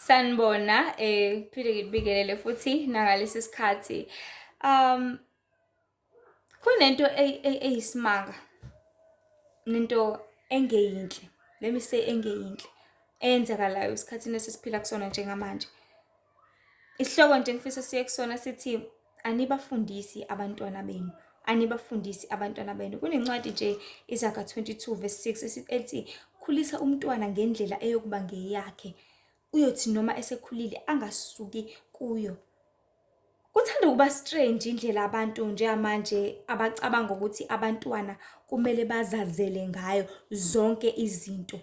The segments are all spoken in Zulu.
Sanibona eh phinde ngibingelele futhi nakalesi sikhathi um kunento eyisimanga nento engeyinhle let me say engeyinhle eyenzakalayo esikhathini esisiphila kusona njengamanje. Isihloko nje ngifisa siye kusona sithi anibafundisi abantwana benu anibafundisi abantwana benu. Kunencwadi nje iZaga 22 verse 6 ethi khulisa umntwana ngendlela eyokuba ngeyakhe uyothi noma esekhulile angasuki kuyo. Kuthanda ukuba strange indlela abantu njengamanje abacabanga ukuthi abantwana kumele bazazele ngayo zonke izinto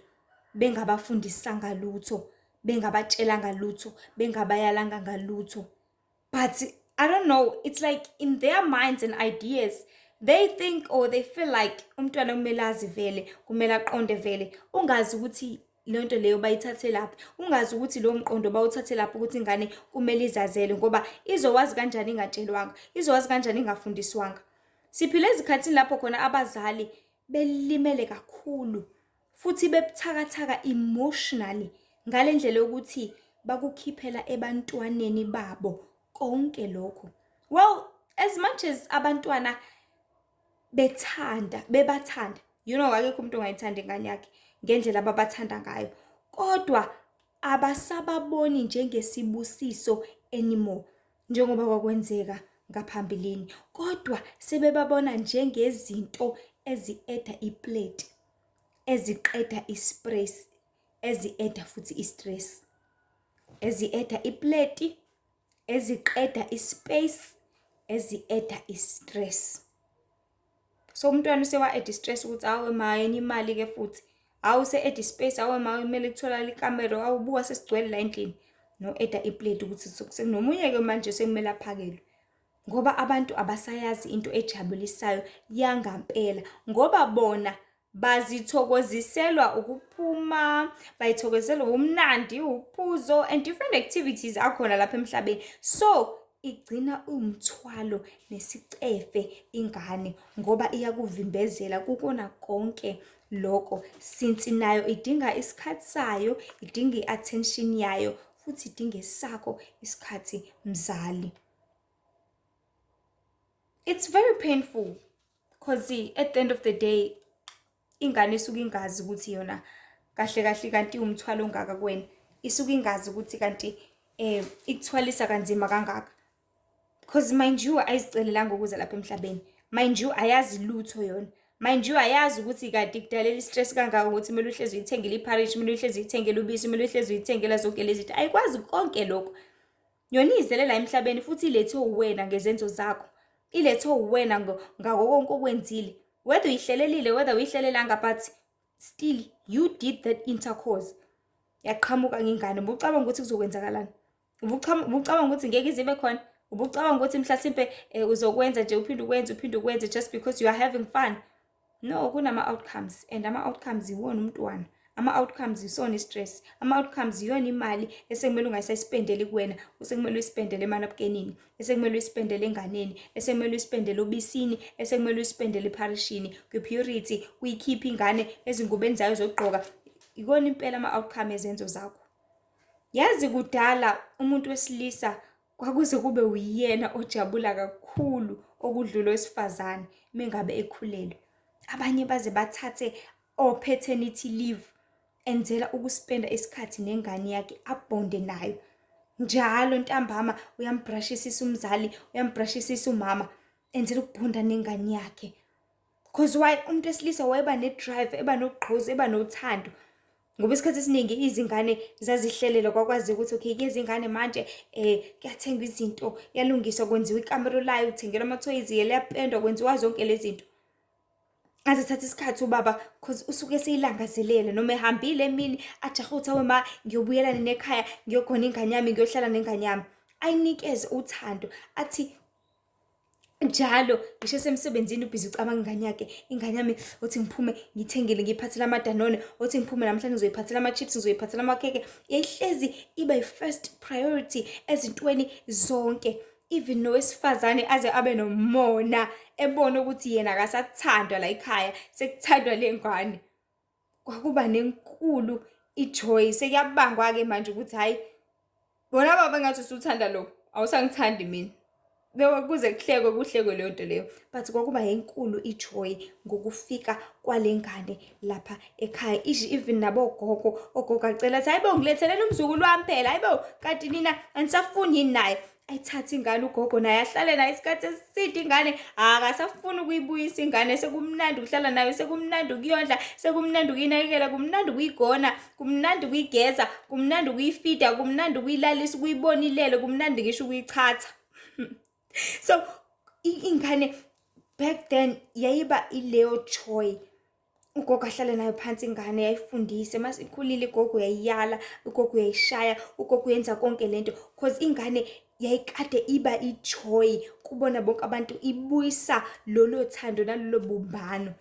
bengabafundisanga lutho. bengabatshelanga lutho bengabayalanga ngalutho but i don't know it's like in their minds and ideas they think or they feel like umntwana kumele azi vele kumele aqonde vele ungazi ukuthi le nto leyo bayithathe laphi ungazi ukuthi lowo mqondo bawuthathe laphi ukuthi ingane kumele izazele ngoba izowazi kanjani ingatshelwanga izowazi kanjani ingafundiswanga siphile ezikhathini lapho khona abazali belimele kakhulu futhi bebuthakathaka emotionally ngale ndlela yokuthi bakukhiphela ebantwaneni babo konke lokho well as much as abantwana bethanda bebathanda you know akekho umuntu ongayithanda ingane yakhe ngendlela ababathanda ngayo kodwa abasababoni njengesibusiso anymore njengoba kwakwenzeka ngaphambilini kodwa sebebabona njengezinto ezi-eda iplate eziqeda i-stress ezieda futhi i-stress ezieda ipleti eziqeda i-space ezieda i-stress so umntwana usewa-eda i-stress ukuthi awe mayenye imali-ke futhi awu se-eda i-space awe ma kumele kutholakala ikamero awubuka sesigcwele la endlini no-eda ipleti ukuthi sekunomunye-ke manje sekumele aphakelwe ngoba abantu abasayazi into ejabulisayo yangampela ngoba bona bazithokoziselwa ukuphuma bayithokozelwa ubumnandi uphuzo and different activities akhona lapha emhlabeni so igcina umthwalo nesicefe ingane ngoba iyakuvimbezela kukona konke lokho since nayo idinga isikhathi sayo idinga i-attention yayo futhi idinge sakho isikhathi mzali it's very painful because at the end of the day ingane isuke ingazi ukuthi yona kahle kahle kanti umthwalo ongaka kuwena isuke ingazi ukuthi kanti eh ikuthwalisa kanzima kangaka because mind you ayizicelelanga ukuza lapha emhlabeni mind you ayazi lutho yona mind you ayazi ukuthi kade kudalela istress kangaka ukuthi kumele uhlezi uyithengele ipharish kumele uhlezi uyithengele ubisi kumele uhlezi uyithengela zonke lezi zinto ayikwazi konke lokho Nyoni izele la emhlabeni futhi ilethwe uwena ngezenzo zakho. Ilethwe uwena ngako konke okwenzile. Whether uyihlelelile, whether uyihlelelanga but still you did that intercourse. Yaqhamuka ngengane. Ubucabanga ukuthi kuzokwenzakalani? Ubucabanga ukuthi ngeke izibe khona? Ubucabanga ukuthi mhlasimpe eh, uzokwenza nje uphinde ukwenze uphinde ukwenze just because you are having fun? No, kunama-outcomes and ama-outcomes yiwona umntwana ama-outcomes yisona i-stress ama-outcomes yiyona imali esekumele ungayisayisipendeli kuwena usekumele uyisipendele emanabukenini esekumele uyisipendele enganeni esekumele uyisipendele obisini esekumele uyisipendele epharishini kwi-purity kuyikhipha ingane ezingubeni zayo zokugqoka yikona impela ama-outcome ezenzo zakho yazi kudala umuntu wesilisa kwakuze kube uyena ojabula kakhulu okudlula owesifazane mengabe ekhulelwe abanye baze bathathe opaternity leave enzela ukuspenda isikhathi nengane yakhe abhonde nayo njalo ntambama uyambrashisisa umzali uyambrashisisa umama enzela ukubhonda nengane yakhe Cause why umuntu wesilisa wayeba ne-drive, eba nogqozi, eba nothando. Ngoba isikhathi esiningi izingane zazihlelela kwakwazi ukuthi okay kuyeza ingane manje eh kuyathengwa izinto, kuyalungiswa kwenziwa ikamero layo, kuthengelwa amathoyizi, liyapendwa kwenziwa zonke lezi zinto. Aze thatha isikhathi ubaba cause usuke seyilangazelela noma ehambile emini ajahe ukuthi awe ma ngiyobuyela nina ekhaya ngiyogona ingane yami ngiyohlala nengane yami. Ayinikeze uthando athi njalo ngisho esemsebenzini ubhizi ucabanga ingane yakhe ingane yami othi ngiphume ngithengele ngiyiphathele amadanone othi ngiphume namhlanje ngizoyiphathela ama-chips ngizoyiphathela amakheke yayihlezi iba yi-first priority ezintweni zonke even nowesifazane aze abe nomona ebona ukuthi yena akasathandwa la ekhaya sekuthandwa le ngane Kwakuba nenkulu i-joy. Sekuyabangwa-ke manje ukuthi hhayi bona baba engathi usuthanda lo awusangithandi mina. Kuze kuhlekwe kuhlekwe leyo nto leyo but kwakuba enkulu i-joy ngokufika kwale ngane lapha ekhaya ishi even nabogogo ogogo acela athi hayibo ngilethelele umzukulu wami phela hayibo kanti nina anisafuni yini naye ayithathe ingane ugogo naye ahlale nayo isikhathi esiside ingane akasafuni ukuyibuyisa ingane sekumnandi ukuhlala nayo sekumnandi ukuyondla sekumnandi ukuyinakekela kumnandi ukuyigona kumnandi ukuyigeza kumnandi ukuyifida kumnandi ukuyilalisa ukuyibona ilele kumnandi ngisho ukuyichatha so ingane back then yayiba ileyo choy ugogo ahlale nayo phansi ingane yayifundise uma sikhulile igogo uyayiyala ugogo uyayishaya ugogo uyenza konke le nto because ingane yayikade iba ijoy kubona bonke abantu ibuyisa lolo thando nalolo bumbano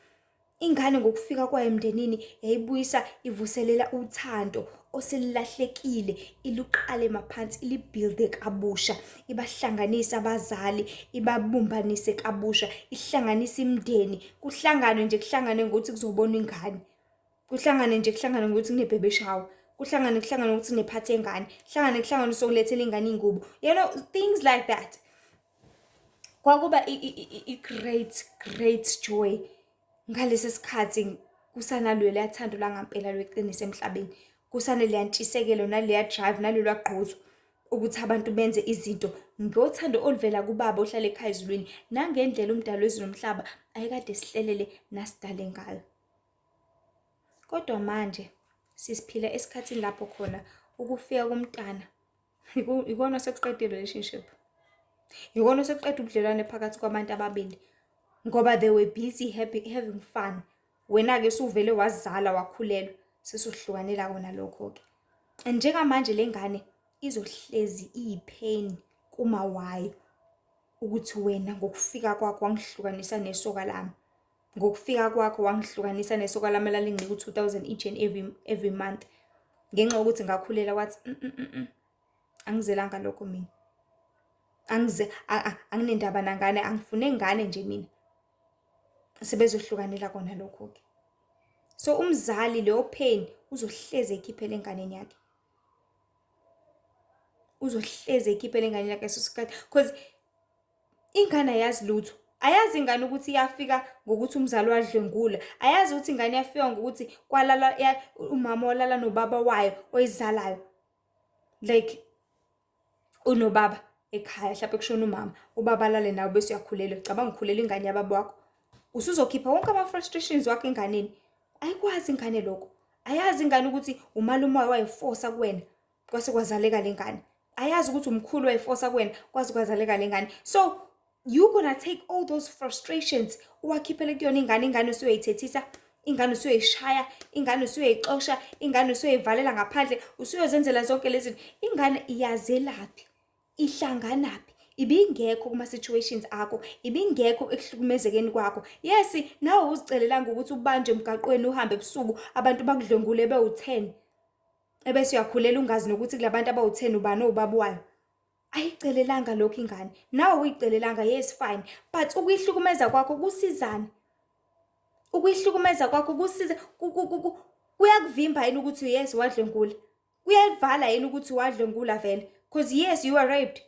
ingane ngokufika kwayo emndenini yayibuyisa ivuselela uthando oselilahlekile iluqale maphansi ilibhilde kabusha ibahlanganise abazali ibabumbanise kabusha ihlanganise imndeni kuhlanganwe nje kuhlangane ngokuthi kuzobona ingane kuhlangane nje kuhlangane ngokuthi kunebhebe shawa kuhlangane kuhlangane ukuthi nephathi engane kuhlangane kuhlangane usokulethela ingane ingubo you know things like that kwakuba i-great great joy ngalesi sikhathi kusanalwela yathando langampela lweqiniso emhlabeni kusane liyantshisekelo naleya drive nalolwa gqozo ukuthi abantu benze izinto ngothando oluvela kubaba ohlala ekhaya ezulwini nangendlela umdalo wezulu nomhlaba ayekade sihlelele nasidale ngayo kodwa manje sisiphila esikhathini lapho khona ukufika komntana ikona sekuqeda i-relationship ikona sekuqeda ubudlelwane phakathi kwabantu ababili ngoba they were busy happy, having fun wena-ke suvele wazala wakhulelwa sesuhlukanela kona lokho-ke and njengamanje le ngane izohlezi iyipain kuma wayo ukuthi wena ngokufika kwakho wangihlukanisa nesoka lami Ngokufika kwakho wangihlukanisa nesoka lami elalinginika u-2000 each and every, every month ngenxa yokuthi ngakhulela wathi mm -mm -mm. mm. angizelanga lokho mina angize anginendaba nangane angifune ngane nje mina sebezohlukanela kona lokho ke so umzali leyo pain uzohleze ekhiphele enganeni yakhe uzohleze ekhiphele enganeni yakhe so sikhathi because Ingane ayazi lutho. Ayazi ingane ukuthi iyafika ngokuthi umzali wadlwengula. Ayazi ukuthi ingane yafika ngokuthi kwalala ya- umama walala nobaba wayo oyizalayo. Like unobaba ekhaya mhlawumbe kushona umama ubaba alale nawe bese uyakhulelwa cabanga ukhulela ingane yababa wakho usuzokhipha wonke ama-frustrations wakho enganeni ayikwazi ingane lokho ayazi ingane ukuthi umalume wayo wayifosa kuwena kwase kwazaleka le ngane ayazi ukuthi umkhulu wayifosa kuwena kwaze kwazaleka le ngane so you gonna take all those frustrations uwakhiphele kuyona ingane ingane usuyoyithethisa ingane usuyoyishaya ingane usuyoyixosha ingane usuyoyivalela ngaphandle usuyozenzela zonke lezi zinto ingane iyazelaphi ihlanganaphi ibingekho kuma-situations akho ibingekho ekuhlukumezekeni kwakho yes nawe uzicelelanga ukuthi ubanje emgaqweni uhambe ebusuku abantu bakudlwengule bewu-ten ebese uyakhulela ungazi nokuthi kulabantu abawutheni ubani owubaba wayo ayicelelanga lokho ingane nawe uyicelelanga yes fine but ukuyihlukumeza kwakho kusizani ukuyihlukumeza kwakho kusiza kuyakuvimba yini ukuthi yes wadlwengula kuyayivala yini ukuthi wadlwengula vele because yes you are raped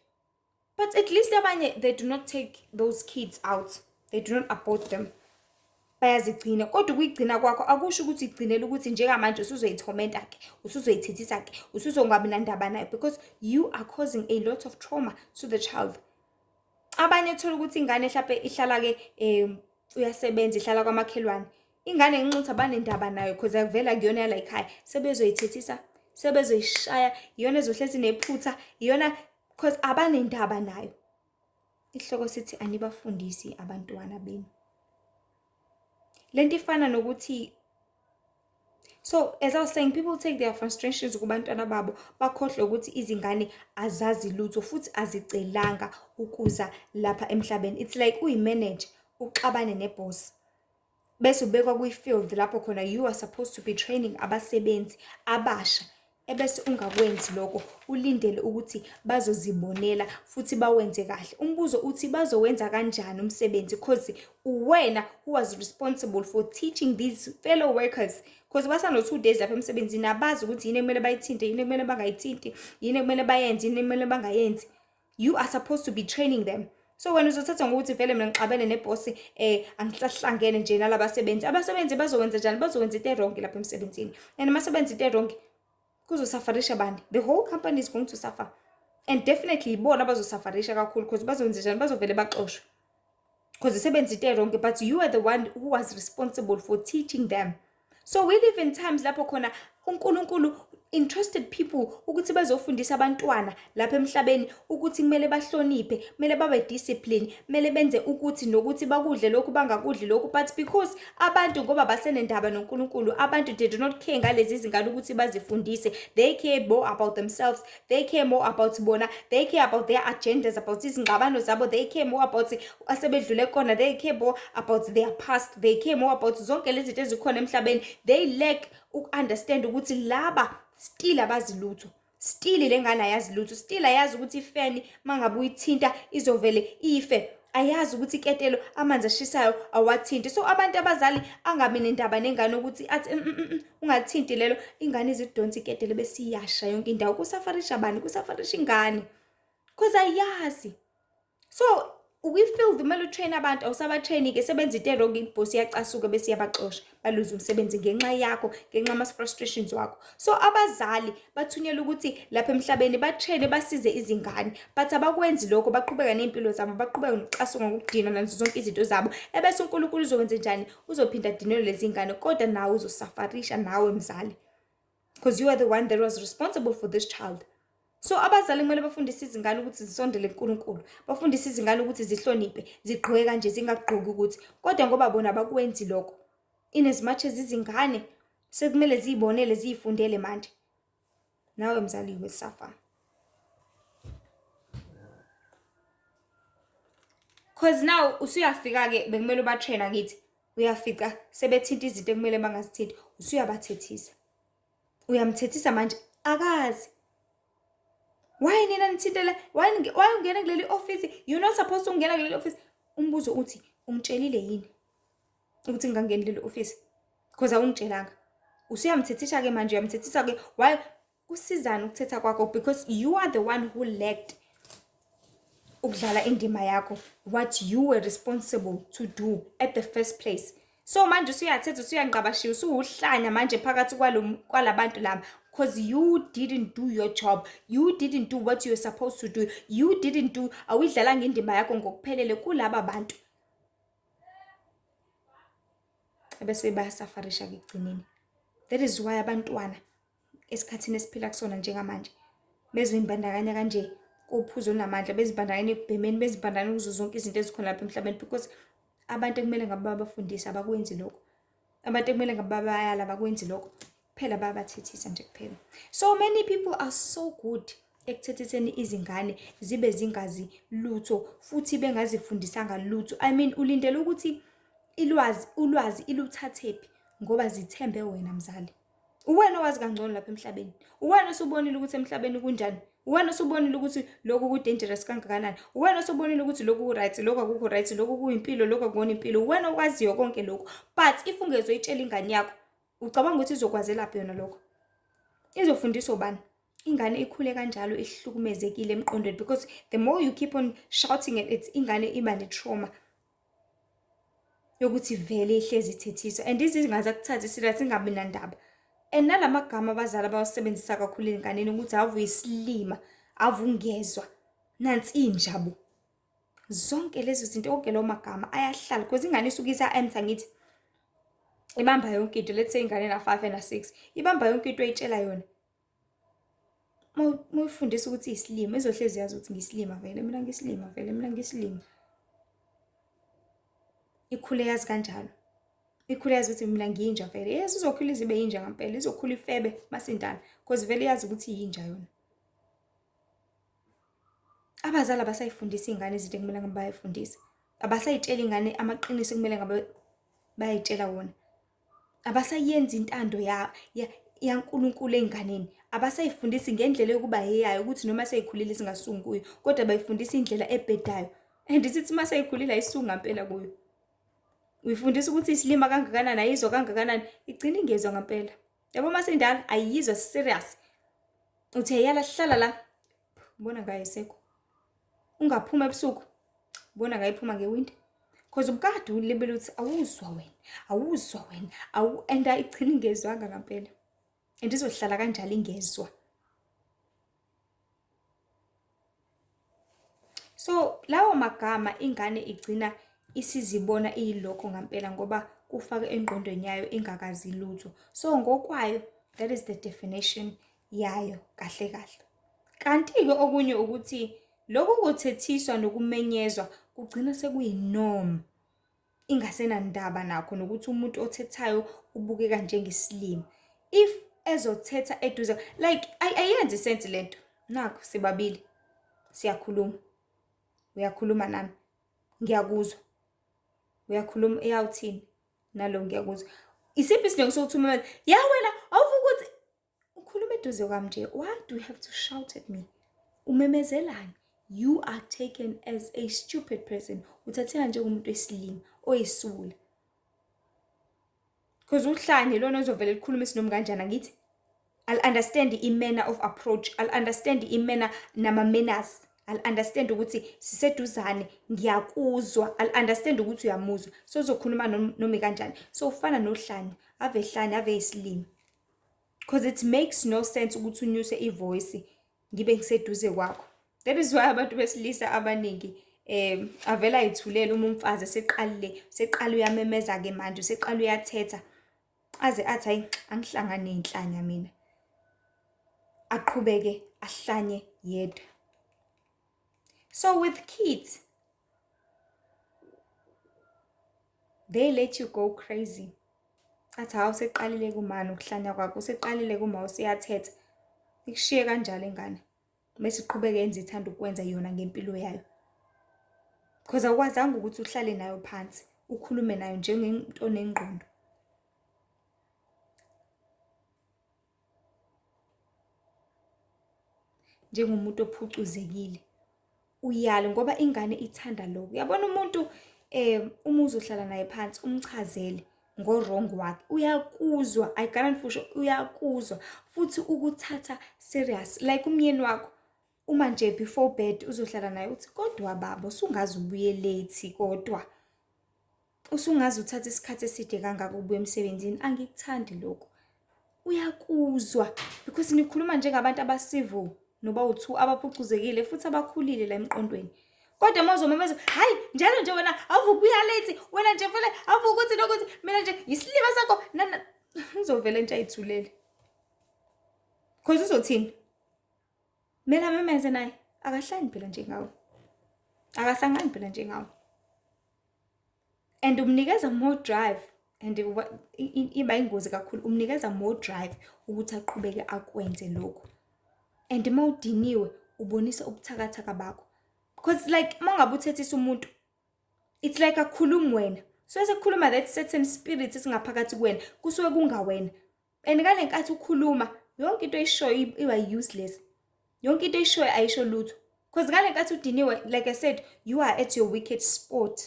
but at least abanye they do not take those kids out they do not abort them bayazigcina kodwa ukuyigcina kwakho akusho ukuthi igcinele ukuthi njengamanje usuzoyithomenta ke usuzoyithethisa ke usuzongabi nandaba nayo because you are causing a lot of trauma to the child abanye thola ukuthi ingane mhlawumbe ihlala ke um uyasebenza ihlala kwamakhelwane ingane nginxuthi abanendaba nayo cause akuvela kuyona yala yikhaya sebezoyithethisa sebezoyishaya iyona ezohlezi nephutha iyona cause abanendaba nayo isihloko sithi anibafundisi abantwana benu lento ifana nokuthi so as i was saying people take their frustrations kubantwana babo bakhohlwe ukuthi izingane azazi lutho futhi azicelanga ukuza lapha emhlabeni it's like uyimanage uxabane neboss bese ubekwa kwi-field lapho khona you are supposed to be training abasebenzi abasha ebese ungakwenzi lokho ulindele ukuthi bazozibonela futhi bawenze kahle umbuzo uthi bazowenza kanjani umsebenzi cause uwena who was responsible for teaching these fellow workers cause basano-two days lapha emsebenzini abazi ukuthi yini ekumele bayithinte yini ekumele bangayithinti yini ekumele bayenze yini ekumele bangayenzi you are supposed to be training them so wena uzothatha ngokuthi vele mina ngixabene nebhosi um eh, angisahlangene nje nalaba sebenzi abasebenzi bazokwenza njani bazokwenza into erongi lapha emsebenzini and uma sebenza into erongi kuzosafarisha bani the whole company is going to suffer and definitely ibona abazosafarisha kakhulu because bazokwenza njani bazovele baxoshwe because isebenza into wrong but you are the one who was responsible for teaching them so we live in times lapho khona uNkulunkulu interested people ukuthi bazofundisa abantwana lapha emhlabeni ukuthi kumele bahloniphe kumele babe discipline kumele benze ukuthi nokuthi bakudle lokhu bangakudli lokhu but because abantu ngoba basenendaba noNkulunkulu abantu they do not care ngalezi zingane ukuthi bazifundise they care more about themselves they care more about bona they care about their agendas about izingxabano zabo they care more about asebedlule kona they care more about their past they care more about zonke lezi zinto ezikhona emhlabeni they lack uku-understand ukuthi laba still abazi lutho still le ngane ayazi lutho still ayazi ukuthi ifeni uma ngabe uyithinta izovele ife ayazi ukuthi iketelo amanzi ashisayo awathinti so abantu abazali angabi nendaba nengane ukuthi athi mm, mm, mm, ungathinti lelo ingane izidonsa iketele bese iyasha yonke indawo kusafarisha bani kusafarisha ingane cause ayazi so ukwi-field kumele utrain abantu awusabatraini-ke sebenza into erongi ibhosi iyacasuka bese iyabaxosha baluze umsebenzi ngenxa yakho ngenxa ama-frustrations wakho so abazali bathunyelwa ukuthi lapha emhlabeni batraine basize izingane but abakwenzi lokho baqhubeka ney'mpilo zabo baqhubeka nokucasuka ngokudinwa nanzo zonke izinto zabo ebese unkulunkulu uzokwenze njani uzophinda adinelwe lezi ngane kodwa nawe uzosafarisha nawe mzali because you are the one that was responsible for this child so abazali kumele bafundise izingane ukuthi zisondele kuNkulunkulu bafundise izingane ukuthi zihloniphe zigqoke kanje zingagqoki ukuthi kodwa ngoba bona bakwenzi lokho in as much as izingane sekumele ziyibonele ziyifundele manje nawe mzali wesafa cause now usuyafika-ke bekumele ubatrena kithi uyafica sebethinta izinto ekumele bangazithinti usuyabathethisa uyamthethisa manje akazi why nina nithintela why ungena kuleli office you're not supposed to ungena kuleli office umbuzo uthi ungitshelile yini ukuthi ngingangeni leli ofisi cause awungitshelanga usuyamthethisa ke manje uyamthethisa ke why kusizani ukuthetha kwakho because you are the one who lacked ukudlala indima yakho what you were responsible to do at the first place so manje usuyathetha usuyangqabashiya usuwuhlanya manje phakathi kwalabantu laba because you didn't do your job you didn't do what you're supposed to do you didn't do awuyidlalanga indima yakho ngokuphelele kulaba bantu ebese bayasafarisha-ke ekugcineni that is why abantwana esikhathini esiphila kusona njengamanje bezimbandakanya kanje kophuzo namandla bezibandakanya ekubhemeni bezibandakanya kuzo zonke izinto ezikhona lapha emhlabeni because abantu ekumele ngabe babafundise abakwenzi lokho abantu ekumele ngabe bayala bakwenzi lokho kuphela bayabathethisa nje kuphela so many people are so good ekuthethiseni izingane zibe zingazi lutho futhi bengazifundisanga lutho i mean ulindele ukuthi ilwazi ulwazi iluthathephi ngoba zithembe wena mzali uwena owazi kangcono lapha emhlabeni uwena osubonile ukuthi emhlabeni kunjani uwena osubonile ukuthi lokhu ku-dangerous kangakanani uwena osubonile ukuthi lokhu ku-right lokhu akukho right lokhu kuyimpilo lokhu akubona impilo uwena okwaziyo konke lokhu but if ungezoyitshela ingane yakho ucabanga ukuthi izokwazelaphi yona lokho izofundisa ubani ingane ikhule kanjalo ihlukumezekile emqondweni because the more you keep on shouting at it ingane iba ne-trauma yokuthi vele ihlezi ithethiswa and izinga zakuthatha isila singabi nandaba and nala magama abazali abawasebenzisa kakhulu ezinganeni ukuthi avu isilima avu ungezwa nansi injabo zonke lezo zinto onke lawo magama ayahlala because ingane isuke isa-answer ngithi ibamba yonke into let's say ingane na-five ena-six ibamba yonke into oyitshela yona uma uyifundisa ukuthi iyisilima izohlezi yazi ukuthi ngiyisilima vele mina ngiyisilima vele mina ngiyisilima ikhule yazi kanjalo ikhule yazi ukuthi mina ngiyinja vele yes izokhula izibe yinja ngampela izokhula ifebe masindala cause vele yazi ukuthi yinja yona abazali abasayifundisa iy'ngane izinto ekumele ngabe bayayifundisa abasayitshela ingane amaqiniso ekumele ngabe bayayitshela wona abasayenzi intando ya, ya, yaNkulunkulu ey'nganeni abasayifundisi ngendlela yokuba heyayo ukuthi noma seyikhulile singasungi kuyo kodwa bayifundisa indlela ebhedayo and sithi uma seyikhulile ayisunga mpela kuyo uyifundisa ukuthi isilima kangakanani ayizwa kangakanani igcina ingezwa ngampela yabo uma sendala ayiyizwa serious uthe yala hlala la ubona kayisekho ungaphuma ebusuku ubona kayiphuma ngewindi because umkade ulibele ukuthi awuzwa wena awuzwa wena awu and ayigcini ingezwanga ngampela and izohlala kanjalo ingezwa so lawo magama ingane igcina isizibona iyilokho ngampela ngoba kufake engqondweni yayo ingakazi lutho so ngokwayo that is the definition yayo kahle kahle. Kanti-ke okunye ukuthi lokhu kuthethiswa nokumenyezwa kugcina sekuyinoma ingasenandaba nakho nokuthi umuntu othethayo ubukeka njengesilima if ezothetha eduze like ayenzi sense lento nakho sibabili siyakhuluma uyakhuluma nami ngiyakuzwa uyakhuluma eyawuthini nalo ngiyakuzwa isiphi isidingo sokuthi umemeze ya wena awuvuka ukuthi ukhuluma eduze kwami nje why do you have to shout at me umemezelani you are taken as a stupid person uthatheka njengomuntu wesilima oyisula because uhlanye lona ozovele likhuluma isinomi kanjani angithi i'll understand i-manner of approach i'll understand i-manner nama-manners i'll understand ukuthi siseduzane ngiyakuzwa i'll understand ukuthi uyamuzwa so uzokhuluma nomi kanjani so ufana nohlanya ave hlanya ave isilimi Cause it makes no sense ukuthi unyuse ivoice ngibe ngiseduze kwakho. That is why abantu besilisa abaningi um avela ayithulele uma umfazi eseqalile seqala uyamemeza ke manje seqala uyathetha aze athi hayi angihlangani nenhlanya mina aqhubeke ahlanye yedwa so with kids they let you go crazy athi hawu sekuqalile kumani ukuhlanya kwakho sekuqalile kuma usiyathetha ikushiye kanjalo ingane bese iqhubeke yenze ithanda ukwenza yona ngempilo yayo because awukwazanga ukuthi uhlale nayo phansi ukhulume nayo njengento onengqondo njengomuntu ophucuzekile uyale ngoba ingane ithanda lokho. Uyabona umuntu uma uzohlala naye phansi umchazele ngo-wrong wakhe uyakuzwa, I guarantee for sure uyakuzwa futhi ukuthatha serious like umyeni wakho uma nje before bed uzohlala naye uthi kodwa baba usungaze ubuye late kodwa. Usungaze uthathe isikhathi eside kangaka ubuya emsebenzini, angikuthandi lokho. Uyakuzwa because nikhuluma njengabantu abacivil noba uthu abaphucuzekile futhi abakhulile la emqondweni. Kodwa mozomemeza, hayi njalo nje wena awuvukuya late, wena nje vele awuvukuthi nokuthi mina nje yisilima sakho nana uzovele nje ayithulele. Cause uzothini? Mina memeze naye akahlani phela njengawe. Akasangani phela njengawe. and umnikeza more drive and iba ingozi kakhulu umnikeza more drive ukuthi aqhubeke akwenze lokhu and uma udiniwe ubonisa ubuthakathaka bakho because like uma ungabe uthethisa umuntu it's like akhulumi wena so sekukhuluma that certain spirit esingaphakathi kuwena kusuke kungawena and ngale nkathi ukhuluma yonke into oyishoyo iba useless yonke into oyishoyo ayisho lutho because ngale nkathi udiniwe like i said you are at your wicked sport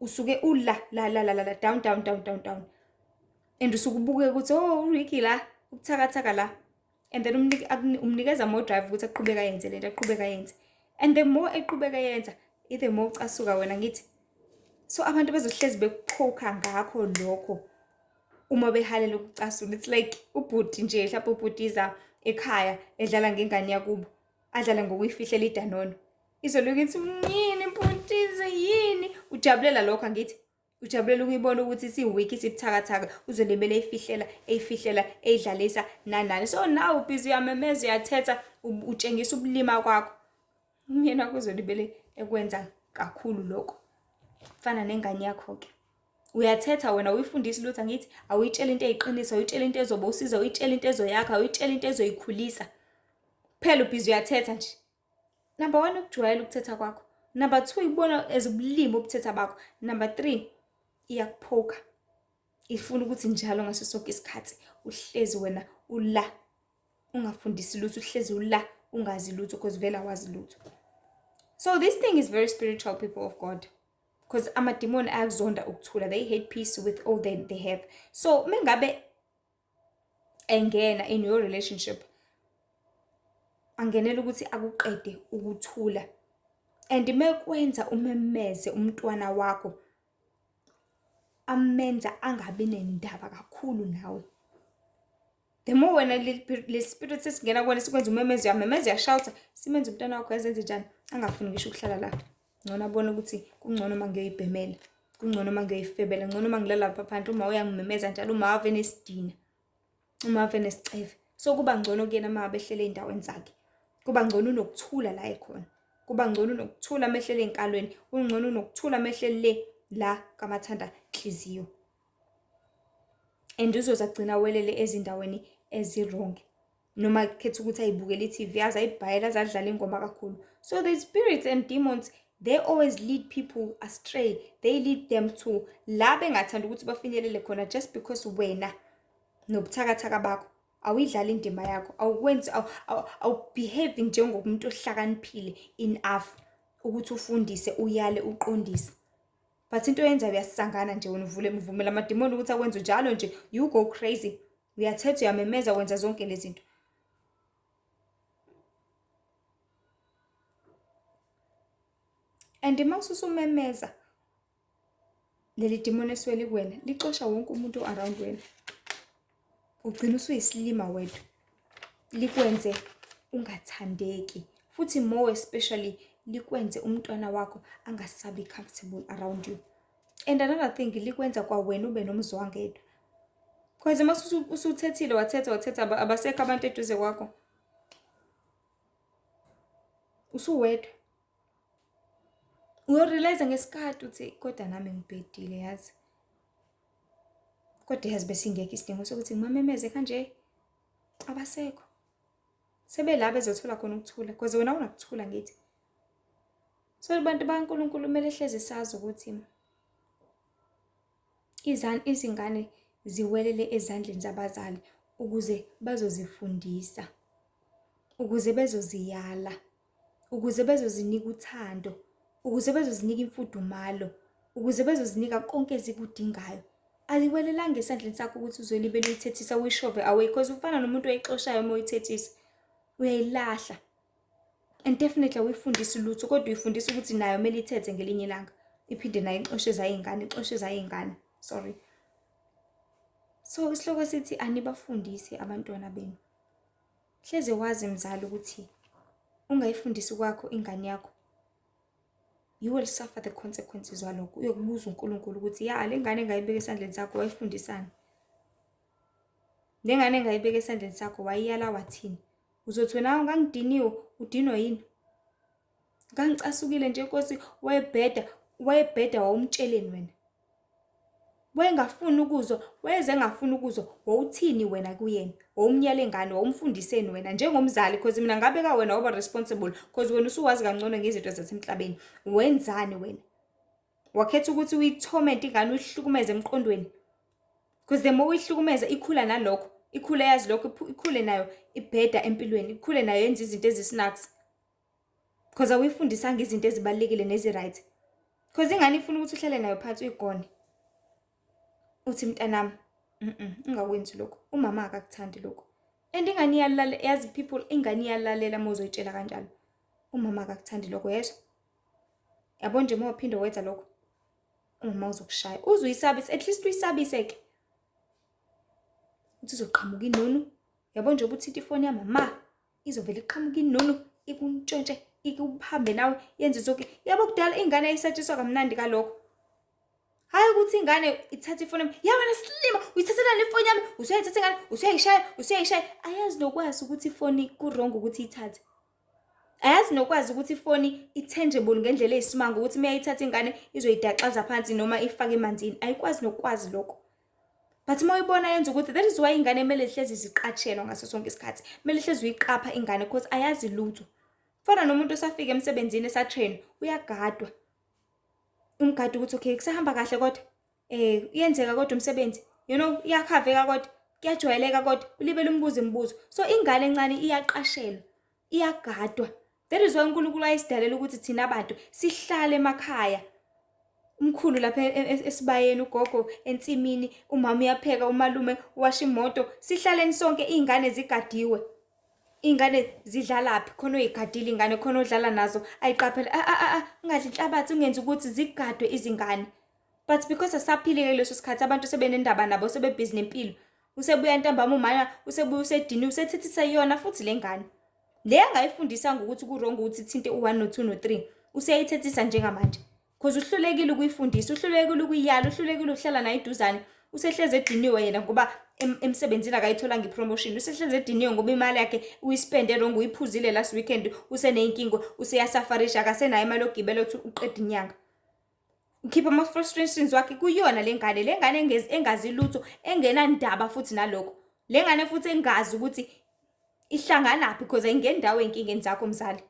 usuke ula la la la la down down down down down and usuke ubuke ukuthi oh uricky la ubuthakathaka la and then umnikeza more drive ukuthi aqhubeka yenze lento aqhubeka yenze and the more eqhubeka yenza ithe more ucasuka wena ngithi so abantu bezohlezi bekuchoka ngakho lokho uma behalela ukucasula it's like ubhuti nje mhlawumbe ubhutiza ekhaya edlala ngengane yakubo adlale ngokuyifihlela idanono izoloku ithi yini bhutize yini ujabulela lokho angithi ujabulela ukuyibona ukuthi siwiki sibuthakathaka uzolimele eyifihlela eyifihlela eyidlalisa nanani so naw ubhizi uyamemeza uyathetha utshengisa ubulima kwakho umyeni wakho uzolibele ekwenza kakhulu lokho fana nengane yakho-ke uyathetha wena uyifundisa lutho angithi awuyitshela into eyiqiniso awuyitshela into ezoba usiza uyitshela into ezoyakha awuyitshela into ezoyikhulisa phela ubhizi uyathetha nje number one ukujwayela ukuthetha kwakho number two ibona as ubulimi ubuthetha bakho number three iyakuphoka ifuna ukuthi njalo ngaso sonke isikhathi uhlezi wena ula ungafundisi lutho uhlezi ula ungazi lutho because vele awazi lutho so this thing is very spiritual people of god because amadimoni ayakuzonda ukuthula they hate peace with all that they have so mengabe engena in your relationship angenela ukuthi akuqede ukuthula and mekwenza umemeze umntwana wakho amenza angabi nendaba kakhulu nawe the more wena lesi spirit sesingena kuwena sikwenza umemezi uyamemeza uyashawutha simenza umntwana wakho yazenze njani angafuni ngisho ukuhlala la ngcono abone ukuthi kungcono uma ngiyoyibhemela kungcono uma ngiyoyifebela ngcono uma ngilalapha phanti uma uyangimemeza njalo uma ave nesidina uma ave nesiceve so kuba ngcono kuyena uma abehlele ey'ndaweni zakhe kuba ngcono unokuthula la ekhona kuba ngcono unokuthula amehlele ey'nkalweni kungcono unokuthula amehlele le la kamathanda nhliziyo and uzoze agcina awelele ezindaweni ezi-wrong noma khetha ukuthi ayibukele i-tv aze ayibhayela aze adlale ingoma kakhulu so the spirits and demons they always lead people astray they lead them to la bengathanda ukuthi bafinyelele khona just because wena nobuthakathaka bakho awuyidlali indima yakho awukwenzi awubehave njengomuntu ohlakaniphile enough ukuthi ufundise uyale uqondise but into oyenzayo uyasangana nje wena uvule mvumela amadimoni ukuthi akwenze njalo nje you go crazy uyathetha uyamemeza wenza zonke lezi zinto and uma ususumemeza leli dimoni esweli kuwena licosha wonke umuntu o-around wena ugcina usuyisilima wedwa likwenze ungathandeki futhi more especially likwenze umntwana wakho angasabi comfortable around you and another thing likwenza kwawena ube nomzwangedwa cause uma usuthethile wathetha wathetha abasekho abantu eduze kwakho usuwedwa Ngiyorealize ngesikhathi ukuthi kodwa nami ngibhedile yazi. Kodwa yazi besingekho isidingo sokuthi ngimamemeze kanje. Abasekho. Sebela bezothola khona ukuthula because wena unakuthula ngithi. So abantu baNkulunkulu kumele hleze sazi ukuthi izani izingane ziwelele ezandleni zabazali ukuze bazozifundisa ukuze bezoziyala ukuze bezozinika uthando, ukuze bezozinika imfudumalo, ukuze bezozinika konke ezikudingayo. Aliwelelanga esandleni sakho ukuthi uzolibele uyithethisa uyishove away because ufana nomuntu oyixoshayo uma uyithethisa uyayilahla and definitely awuyifundisi lutho kodwa uyifundisa ukuthi nayo kumele ithethe ngelinye ilanga iphinde nayo ixoshe zayingane ixoshe zayingane sorry so isihloko sithi anibafundisi abantwana benu Hleze wazi mzali ukuthi ungayifundisi kwakho ingane yakho you will suffer the consequences walokho uyokubuza uNkulunkulu ukuthi ya le ngane engayibeka esandleni sakho wayifundisani le ngane engayibeka esandleni sakho wayiyala wathini uzothi wena ungangidiniwe udinwa yini Ngangicasukile nje Nkosi wayebheda, wayebheda wawumtsheleni wena? Wayengafuni ukuzwa, wayeze engafuni ukuzwa, wawuthini wena kuyena? Wawumyale ngani? Wawumfundiseni wena njengomzali because mina ngabeka wena waba responsible because wena usuwazi kangcono ngezinto zasemhlabeni. Wenzani wena? Wakhetha ukuthi uyithomenti ingane uyihlukumeze emqondweni. Because the more uyihlukumeza ikhula nalokho, ikhule yazi lokho, ikhule nayo ibheda empilweni, ikhule nayo yenza izinto ezisinakzi. Cause awuyifundisanga izinto ezibalulekile nezi-right. Cause ingane ifuna ukuthi uhlale nayo phansi uyigone. Uthi mntanami, mhm, ungakwenzi lokho. Umama akakuthandi lokho. And ingane iyalalela, yazi people ingane iyalalela uma uzoyitshela kanjalo. Umama akakuthandi lokho yezwa. Yabo nje uma uphinde wenza lokho. Umama uzokushaya. Uzuyisabise, at least uyisabise ke. Uthi uzoqhamuka inunu. Yabo nje ukuthi ithe ifoni yamama. izovele iqhamuke inono ikuntshontshe ikuhambe nawe yenze zonke yabo kudala ingane ayisatshiswa kamnandi kalokho hayi ukuthi ingane ithatha ifoni yami ya wena silima uyithathelani ifoni yami usuyayithatha ingane usuyayishaya usuyayishaya ayazi nokwazi ukuthi ifoni ku-wrong ukuthi ithathe ayazi nokwazi ukuthi ifoni i-tangible ngendlela eyisimanga ukuthi uma yayithatha ingane izoyidaxaza phansi noma ifake emanzini ayikwazi nokwazi lokho but uma uyibona yenza ukuthi that is why ingane kumele zihlezi ziqatshelwa ngaso sonke isikhathi kumele hlezi uyiqapha ingane because ayazi lutho fana nomuntu osafika emsebenzini esatrain uyagadwa umgadi ukuthi okay kusahamba kahle kodwa eh uyenzeka kodwa umsebenzi you know iyakhaveka kodwa kuyajwayeleka kodwa ulibele umbuzo imibuzo so ingane encane iyaqashelwa iyagadwa that is why unkulunkulu ayisidalela ukuthi thina bantu sihlale emakhaya umkhulu lapha e, e, esibayeni ugogo ensimini umama uyapheka umalume washa imoto sihlaleni sonke iy'ngane zigadiwe iy'ngane zidlalaphi khona oyigadile ingane khona odlala nazo ayiqaphele a a a ungadli inhlabathi ungenzi ukuthi zigadwe izingane but because asaphile-ke kuleso sikhathi abantu sebenendaba nabo sebebhizi nempilo usebuya ntambama umana usebuya usedini usethethisa iyona futhi le ngane le angayifundisanga ukuthi kurongo ukuthi ithinte u-1 no-2 no-3 useyayithethisa njengamanje cause uhlulekile ukuyifundisa uhlulekile ukuyiyala uhlulekile ukuhlala nayo iduzane usehleze ediniwe yena ngoba emsebenzini akayitholanga ipromotion usehleze ediniwe ngoba imali yakhe uyispende rongo uyiphuzile last weekend useneyinkingo useyasafarisha akasenayo imali yokugibela ukuthi uqeda inyanga ngikhiphe ama-frustrations wakhe kuyona le ngane le ngane engazi lutho engenandaba futhi nalokho le ngane futhi engazi ukuthi ihlanganaphi because ayingendawo ey'nkingeni zakho mzali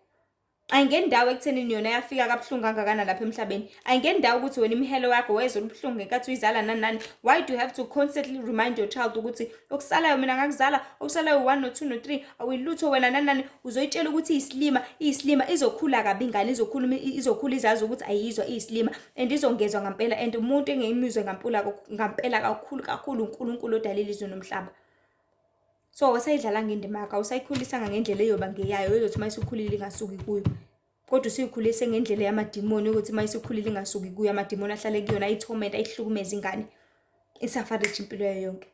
ayingendawo ekuthenini yona yafika kabuhlungu kangakana lapha emhlabeni ayingendawo ukuthi wena imihelo yakho wayezolubuhlungu ngenkathi uyizala nani nani why do you have to constantly remind your child ukuthi okusalayo mina ngakuzala okusalayo u-one no-two no-three awuyilutho wena nanani uzoyitshela ukuthi iyisilima iyisilima izokhula kabi ingane izokhula izokhula izazi ukuthi ayizwa iyisilima and izongezwa ngampela and umuntu engeyimizwe ngampula ngampela kakhulu kakhulu unkulunkulu odala ilizwe nomhlaba so wasayidlalanga indima yakho awusayikhulisanga ngendlela eyoba ngeyayo ezothi uma isukhulile ingasuki kuyo kodwa usuyikhulise ngendlela yamadimoni ukuthi uma isikhulile ingasuki kuyo amadimoni ahlale kuyona ayithomenta ayihlukumeza ingane isafariji impilo yayo yonke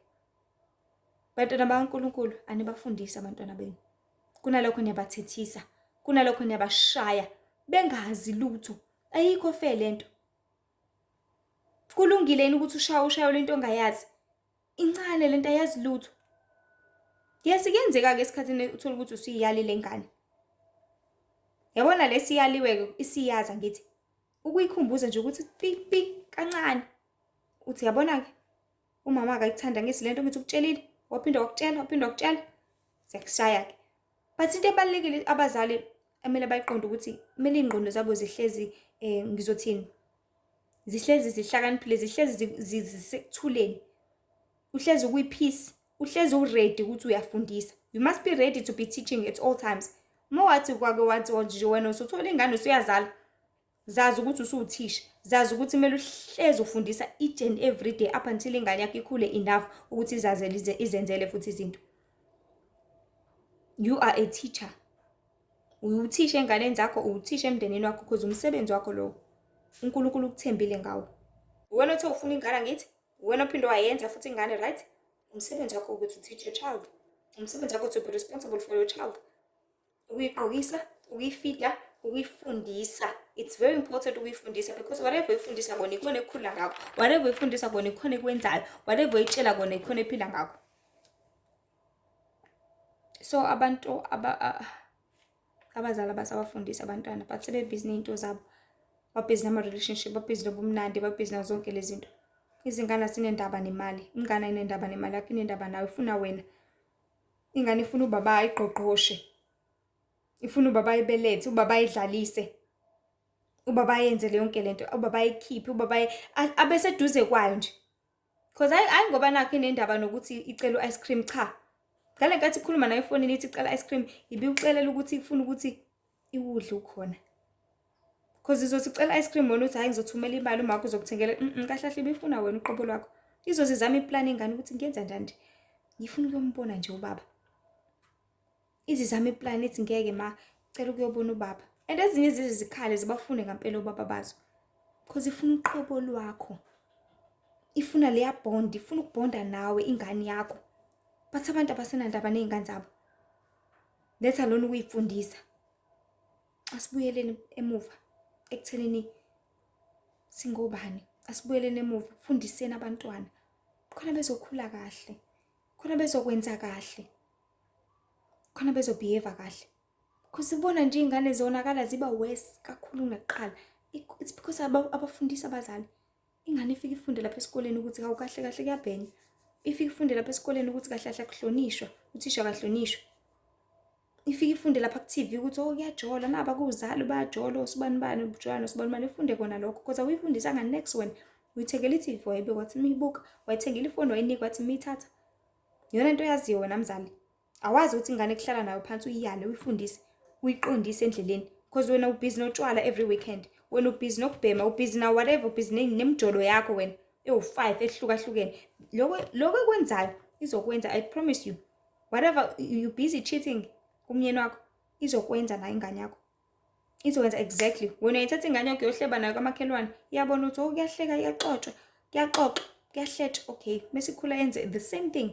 bantwana bakankulunkulu anibafundise abantwana benu kunalokho niyabathethisa kunalokho niyabashaya bengazi lutho ayikho fe le nto kulungile yini ukuthi ushaye ushayo lento ongayazi Incane lento ayazi lutho. Yes kuyenzeka ke esikhathini uthola ukuthi usiyali lengane. Yabona lesiyaliwe ke isiyaza ngithi ukuyikhumbuza nje ukuthi pipi kancane. Uthi yabona ke umama akayithanda ngisi lento ngithi ukutshelile waphinda wakutshela waphinda wakutshela siyakushaya ke. But into ebalekile abazali emele bayiqonde ukuthi kumele ingqondo zabo zihlezi eh ngizothini zihlezi zihlakaniphile zihlezi zisekuthuleni uhlezi ukwi-peace uhlezi uready ukuthi uyafundisa you must be ready to be teaching at all times uma wathi kwake wathi oh, nje wena usuthola ingane usuyazala zazi ukuthi usuwuthisha zazi ukuthi kumele uhlezi ufundisa each and every day up until ingane yakho ikhule enough ukuthi izazele izenzele futhi izinto you are a teacher Uwuthisha enganeni zakho, uwuthisha emndenini wakho because umsebenzi wakho lowo. UNkulunkulu ukuthembile ngawo. Uwena othe ufuna ingane angithi? Uwena ophinde wayenza futhi ingane right? Umsebenzi wakho ukuthi teach your child. Umsebenzi wakho to be responsible for your child. Ukuyigqokisa, ukuyifida, ukuyifundisa. It's very important ukuyifundisa because whatever uyifundisa kona ikhona ekukhula ngakho. Whatever uyifundisa kona ikhona ekwenzayo. Whatever uyitshela kona ikhona ephila ngakho. so abantu aba abazali abasabafundisi abantwana but sebebhizi ney'nto zabo babhizi nama-relationship babhizi nobumnandi babhizi nazo zonke lezi zinto izingane asinendaba nemali ingane inendaba nemali yakho inendaba nawe ifuna wena ingane ifuna ubaba ayigqogqoshe ifuna ubaba ayibelethe ubaba ayidlalise ubaba ayenze le yonke le nto ubaba ayikhiphe ubaba abeseduze kwayo nje Cause hayi hayi ngoba nakho inendaba nokuthi icela u-ice cream cha. Ngale nkathi ikhuluma nayo efonini ithi icela ice cream ibiucelela ukuthi ifuna ukuthi iwudle ukhona. Cause izothi icela ice cream wena uthi hayi ngizothumela imali uma wakho uzokuthengela mm kahle kahle ibifuna wena uqobo lwakho. Izozizama iplan ingane ukuthi ngiyenza njani. Ngifuna ukuyombona nje ubaba. izizama iplan ithi ngeke ma cela ukuyobona ubaba and ezinye zize zikhale zibafune ngampela obaba bazo because ifuna uqobo lwakho ifuna leya bond ifuna ukubonda nawe ingane yakho bathi abantu abasenandaba ney'ngane zabo letha lona ukuyifundisa asibuyeleni emuva ekuthenini singobani asibuyeleni emuva fundiseni abantwana khona bezokhula kahle khona bezokwenza kahle khona bezobehave kahle because ubona nje iy'ngane zonakala ziba worse kakhulu kunakuqala it's because abafundisi abazali ingane ifike ifunde lapha esikoleni ukuthi kawu kahle kahle kuyabhenya ifike ifunde lapha esikoleni ukuthi kahle kahle akuhlonishwa uthisha akahlonishwa ifike ifunde lapha ku-tv ukuthi o oh, kuyajola naba kuwuzali bayajola osibani bani ubujola nosibani bani ifunde kona lokho because awuyifundisanga next one uyithengela i-tv wayibeka wathi miyibuka wayithengela ifoni wayinika wathi miyithatha Yona into oyaziyo wena mzali. Awazi ukuthi ingane kuhlala nayo phansi uyiyale uyifundise uyiqondise endleleni because wena ubhizi notshwala every weekend wena ubhizi nokubhema ubhizi na whatever ubhizi nemjolo yakho wena ewu-five ehlukahlukene loko loko ekwenzayo izokwenza i promise you whatever you busy cheating umyeni wakho izokwenza nayo ingane yakho izokwenza exactly wena uyithatha ingane yakho yohleba nayo kamakhelwane iyabona ukuthi oh kuyahleka iyaxoxwa kuyaxoxa kuyahletha okay mesikhula yenze the same thing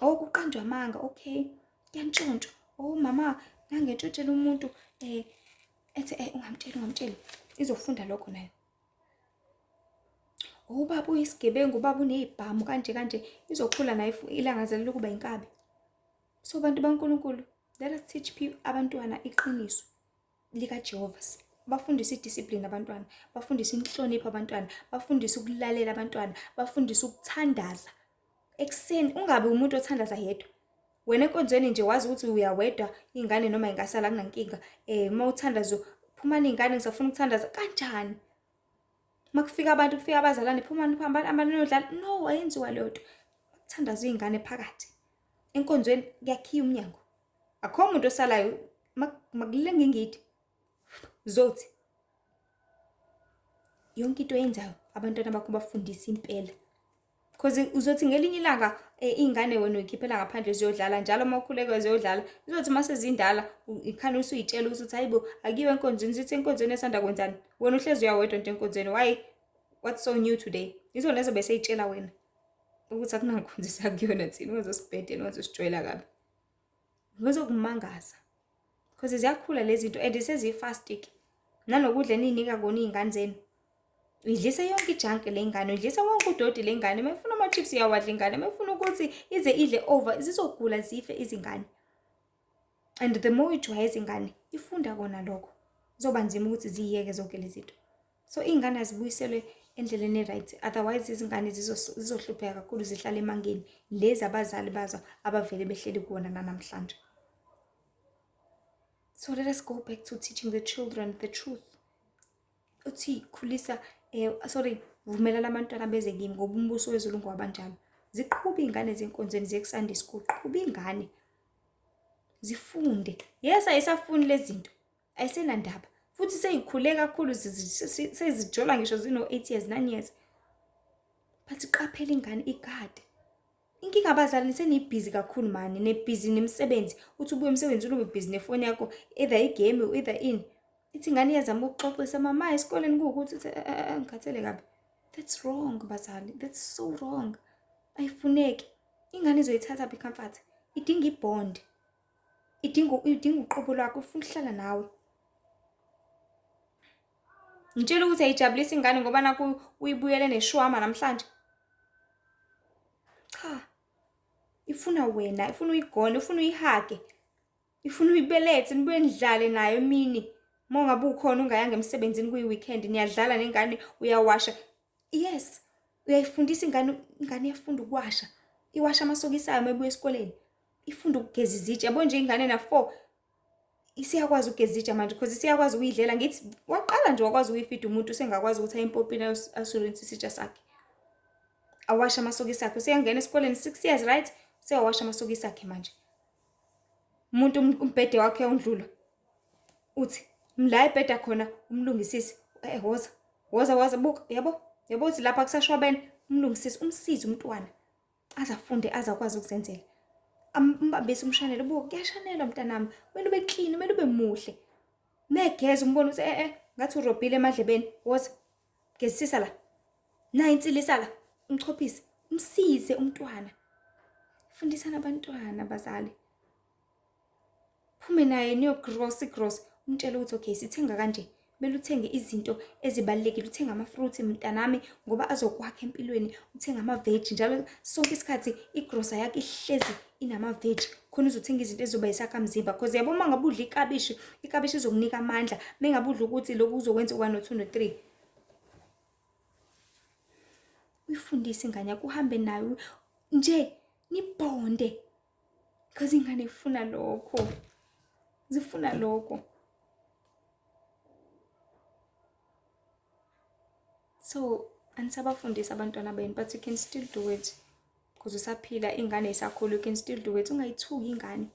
oh kuqanjwa amanga okay kuyantshontshwa oh mama ngangentshotshela umuntu eh ethi eh ungamtsheli ungamtsheli izofunda lokho nayo oh ubaba uyisigebengu ubaba unezibhamu kanje kanje izokhula nayo ilangazelela ukuba inkabi so bantu baNkulunkulu Let us teach people abantwana iqiniso likaJehova. Bafundise idiscipline abantwana, bafundise inhlonipho abantwana, bafundise ukulalela abantwana, bafundise ukuthandaza. Ekuseni ungabe umuntu othandaza yedwa. Wena enkonzweni nje wazi ukuthi uyawedwa ingane noma ingasala kunankinga. Eh uma uthandazo phumani ingane ngisafuna ukuthandaza kanjani? uma kufika abantu kufika abazalwane phumani phambani abantu niyodlala no ayenziwa leyo nto kuthandaza iy'ngane phakathi enkonzweni kuyakhiya umnyango akho muntu osalayo makulenga ingidi zothi yonke into eyenzayo abantwana bakho bafundisa impela cause uzothi ngelinye ilanga eh, iy'ngane wena uyikhiphela ngaphandle ziyodlala njalo uma ukhuleke ziyodlala izothi uma sezindala ikhani usuyitshela ukuthi uthi hayibo akiwe enkonzweni zithi enkonzweni esanda kwenzani wena uhlezi uyawedwa nje enkonzweni why what's so new today izona lezo bese itshela wena ukuthi akunangikhonzisa kuyona thina ungazosibhedela ungazosijwayela kabi ngezokumangaza because ziyakhula lezi zinto and seziyi-fastic nanokudla eniyinika kona iy'ngane zenu idlise yonke ijanke le ngane idlise wonke udodi le ngane uma ifuna ama-chips iyawadla ingane uma ifuna ukuthi ize idle over zizogula zife izingane and the more ijwayeza ingane ifunda kona lokho kuzoba nzima ukuthi ziyeke zonke lezi zinto so iy'ngane azibuyiselwe endleleni e-right otherwise izingane zizohlupheka kakhulu zihlale emangeni lezi abazali bazo abavele behleli kuwona nanamhlanje so let us go back to teaching the children the truth uthi khulisa eh, sorry vumela labantwana beze kimi ngoba umbuso wezulu ngowabanjalo ziqhuba iy'ngane zenkonzweni ziyekusanda isikhulu qhuba iy'ngane zifunde yes ayisafuni lezi zinto ayisenandaba futhi seyikhule kakhulu sezijola ngisho zino-eight years nine years but qaphela ingane igade inkinga abazali senibhizi kakhulu mani nebhizi nemisebenzi uthi ubuye emsebenzini ube bhizi nefoni yakho either igame either in ithi ingane iyazama ukuxoxisa mama esikoleni kuwukuthi uthi eh, eh, eh, ngikhathele kabi that's wrong bazali that's so wrong ayifuneki ingane izoyithatha phi comfort idinga ibond idinga idinga uqobo lwakho ufuna ukuhlala nawe ngitshela ukuthi ayijabulisa ingane ngoba naku uyibuyele neshwama namhlanje cha ifuna wena ifuna uyigone ifuna uyihage ifuna uyibelethe nibuye nidlale nayo emini uma ungabe ukhona ungayanga emsebenzini kuyi-weekend niyadlala nengane uyawasha Yes, uyayifundisa ingane ingane iyafunda ukuwasha. Iwasha amasokisi ayo uma ibuya esikoleni. Ifunda ukugeza izitsha. Yabo nje ingane na 4 isiyakwazi ukugeza izitsha manje because isiyakwazi ukuyidlela ngithi waqala nje wakwazi ukuyifida umuntu usengakwazi ukuthi ayimpopini asolonise isitsha sakhe. Awasha amasokisi akhe useyangena esikoleni 6 years right? Seyawasha amasokisi akhe manje. Umuntu umbhede wakhe uyawundlula. uthi mla ebheda khona umlungisisi eh woza woza waza buka yabo yabo uthi lapha kusashwabene umlungisisi umsize umntwana azafunde azakwazi ukuzenzela ambambise umshanelo buka kuyashanelwa mntanami kumele ube clean kumele ube muhle megeza umbona ukuthi eh eh ngathi urobhile emadlebeni woza gezisisa la nayi insilisa la umchophise umsize umntwana fundisana abantwana bazali phume naye niyogross igross umtshele ukuthi okay sithenga kanje kumele uthenge izinto ezibalulekile uthenga ama-fruit mntanami ngoba azokwakha empilweni uthenga ama-veji njalo sonke isikhathi igrosa yakho ihlezi inama-veji khona uzothenga izinto ezizoba yisakhamzimba cause yabo uma ngabe udla ikabishi ikabishi izokunika amandla uma ngabe udla ukuthi lokhu uzokwenza one no-two no-three uyifundise ingane yakho uhambe nayo nje nibhonde because ingane ifuna lokho zifuna lokho so anisabafundisi abantwana benu but you can still do it because usaphila ingane isakhulu you can still do it ungayithuki ingane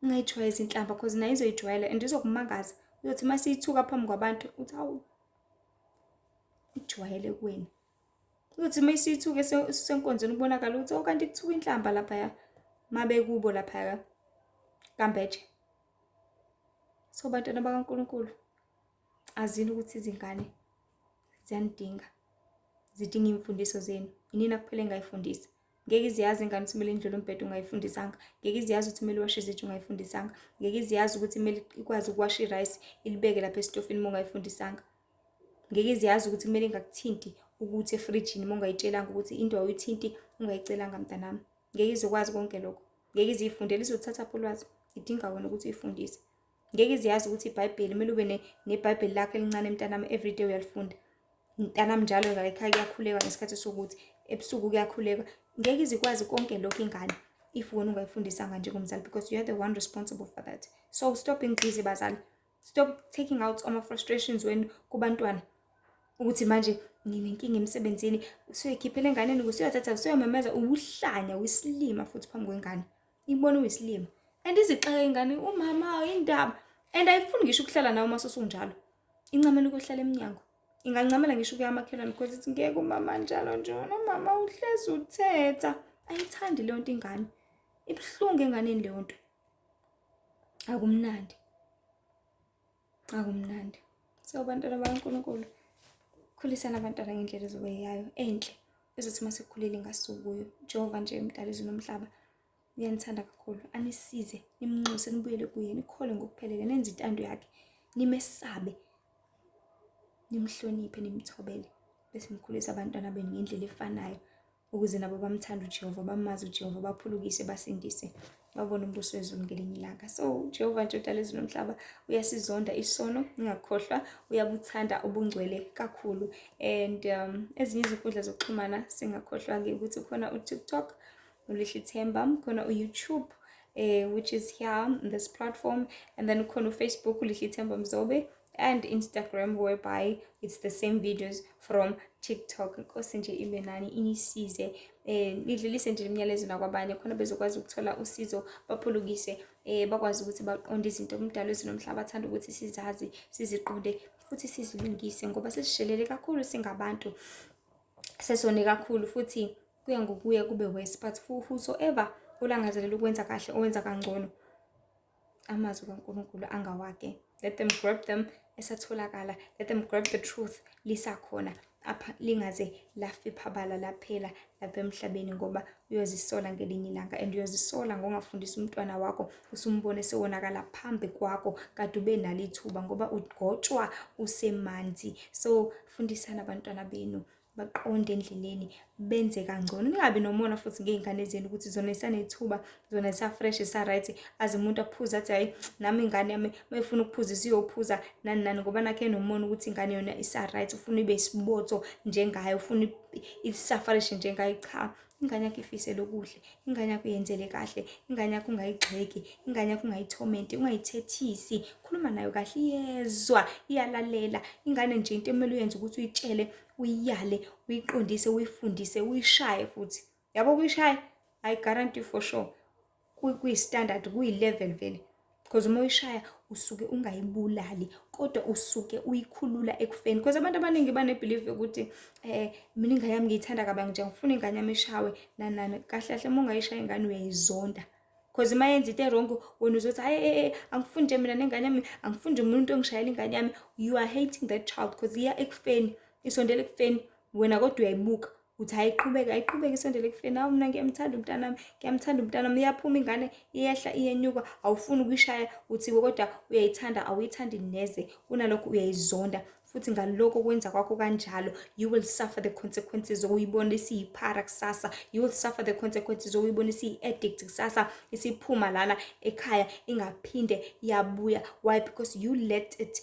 ungayijwayela izinhlamba because nayo izoyijwayela and izokumangaza uzothi uma siyithuka phambi kwabantu uthi awu ijwayele kuwena uyothi uma isithuka esisenkonzweni kubonakala ukuthi okanti oh, kuthuka inhlamba laphaya mabekubo laphaya kambeje so bantwana bakaNkulunkulu azini ukuthi izingane ziyanidinga zidinga imfundiso zenu inina kuphela engayifundisa ngeke iziyazi ingane ukuthi kumele indlule umbhede ungayifundisanga ngeke iziyazi ukuthi kumele iwashe izitsha ungayifundisanga ngeke iziyazi ukuthi kumele ikwazi ukuwasha irayisi ilibeke lapha esitofini uma ungayifundisanga ngeke iziyazi ukuthi kumele ingakuthinti ukuthi efrijini uma ungayitshelanga ukuthi into awuyithinti ungayicelanga mntanami ngeke izokwazi konke lokho ngeke iziyifundele izothatha pho ulwazi idinga wena ukuthi uyifundise ngeke iziyazi ukuthi ibhayibheli kumele ube nebhayibheli lakho elincane mntanami everyday uyalifunda mntanami njalo layikhaya kuyakhuleka ngesikhathi sokuthi ebusuku kuyakhuleka ngeke izikwazi konke lokhu ingane if wena ungayifundisanga njengomzali because you are the one responsible for that so stop being busy bazali stop taking out ama-frustrations wenu kubantwana ukuthi manje nginenkinga emsebenzini usuyoyikhiphela enganeni kusuyothatha usuyomemeza uwuhlanya wisilima futhi phambi kwengane ibona uyisilima and izixaka ingane umama indaba and ayifuni ngisho ukuhlala nawe uma sosunjalo incamela ukuhlala emnyango ingancamela ngisho ukuya amakhelwane because ithi ngeke umama njalo nje nomama uhlezi uthetha ayithandi leyo nto ingane ibuhlungu enganeni leyo nto akumnandi akumnandi so bantwana bakankulunkulu khulisana abantwana ngendlela ezobe yayo enhle ezothi uma sekukhulile ingasukuyo jehova nje emdala izulu nomhlaba uyanithanda kakhulu anisize nimnxuse nibuyele kuye nikhole ngokuphelele nenze intando yakhe nimesabe nimhloniphe nimthobele bese nikhulisa abantwana benu ngendlela efanayo ukuze nabo bamthanda uJehova bamazi uJehova baphulukise basindise babone umbuso wezulu ngelinye ilanga so uJehova nje udala izulu nomhlaba uyasizonda isono ingakhohlwa uyabuthanda ubungcwele kakhulu and um, ezinye izinkundla zokuxhumana singakhohlwa-ke ukuthi khona uTikTok ulihle ithemba khona uYouTube eh, which is here on this platform and then khona uFacebook ulihle ithemba mzobe and instagram whereby it's the same videos from tiktok inkosi nje ibe nani inisize um nidlulise nje imiyalezo nakwabanye khona bezokwazi ukuthola usizo baphulukise um bakwazi ukuthi baqonde izinto kumdalo ezinomhlaba athanda ukuthi sizazi siziqonde futhi sizilungise ngoba sesishelele kakhulu singabantu sesone kakhulu futhi kuya ngokuya kube worse but whosoever olangazelela ukwenza kahle owenza kangcono amazwi kaNkulunkulu angawake let them grab them esatholakala let them grab the truth lisakhona apha lingaze lafiphabala laphela lapha emhlabeni ngoba uyozisola ngelinye ilanga and uyozisola ngongafundisa umntwana wakho usumbone sewonakala phambi kwakho kade ube nalo ithuba ngoba ugotshwa usemanzi so fundisani abantwana benu baqonde endleleni benze kangcono ningabi nomona futhi ngey'ngane zenu ukuthi zona isanethuba zona zisa-fresh zisa-right aze umuntu aphuze athi hhayi nami ingane yami uma ifuna ukuphuza isiyophuza nani nani ngoba nakhe nomona ukuthi ingane yona isa-right ufuna ibe isibotho njengayo ufuna isa-fresh njengayo cha ingane yakho ifisele okuhle ingane yakho yenzele kahle ingane yakho ungayigxeki ingane yakho ungayithomenti ungayithethisi khuluma nayo kahle iyezwa iyalalela ingane nje into emele uyenze ukuthi uyitshele uyiyale uyiqondise uyifundise uyishaye futhi yabo kuyishaya i guarantee for sure kuyi-standard kuyi-level vele because uma uyishaya usuke ungayibulali kodwa usuke uyikhulula ekufeni because abantu abaningi banebelieve yokuthi eh mina ingane yami ngiyithanda kabangi nje ngifuna ingane yami ishawe nanani kahle kahle uma ungayishaya ingane uyayizonda because uma yenza into erongo wena uzothi hayi eh, eh angifuni nje mina nengane yami angifuni nje umuntu ongishayela ingane yami you are hating that child because iya ekufeni isondela ekufeni wena kodwa uyayibuka uthi ayiqhubeke ayiqhubeke isondele ekufeni awu mna ngiyamthanda umntanami ngiyamthanda umntanami iyaphuma ingane iyehla iyenyuka awufuni ukuyishaya uthiwe kodwa uyayithanda awuyithandi neze kunalokho uyayizonda futhi ngalokho kwenza kwakho kanjalo you will suffer the consequences okuyibona isiyiphara kusasa you will suffer the consequences okuyibona isiyi-addict kusasa isiphuma lana ekhaya ingaphinde yabuya why because you let it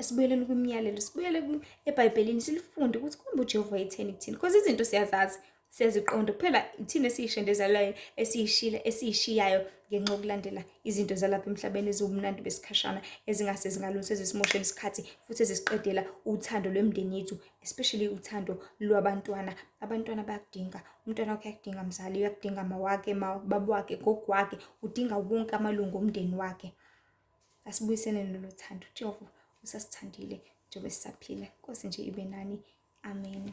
asibuyeleni kwimiyalelo sibuyele ebhayibhelini silifunde ukuthi kumbe ujehova etheni kuthina because izinto siyazazi siyaziqonda kuphela ithina esiyishendezelayo esiyishile esiyishiyayo ngenxa yokulandela izinto zalapha emhlabeni eziwumnandi besikhashana ezingase zingalunsi ezisimoshela isikhathi futhi ezisiqedela uthando lwemndeni yethu especially uthando lwabantwana abantwana bayakudinga umntwana wakho uyakudinga mzali uyakudinga mawakhe babwakhe gogwakhe udinga wonke amalungu omndeni wakhe asibuyisele lolu thando jehova usasithandile njengoba sisaphila nkosi nje ibe nani amen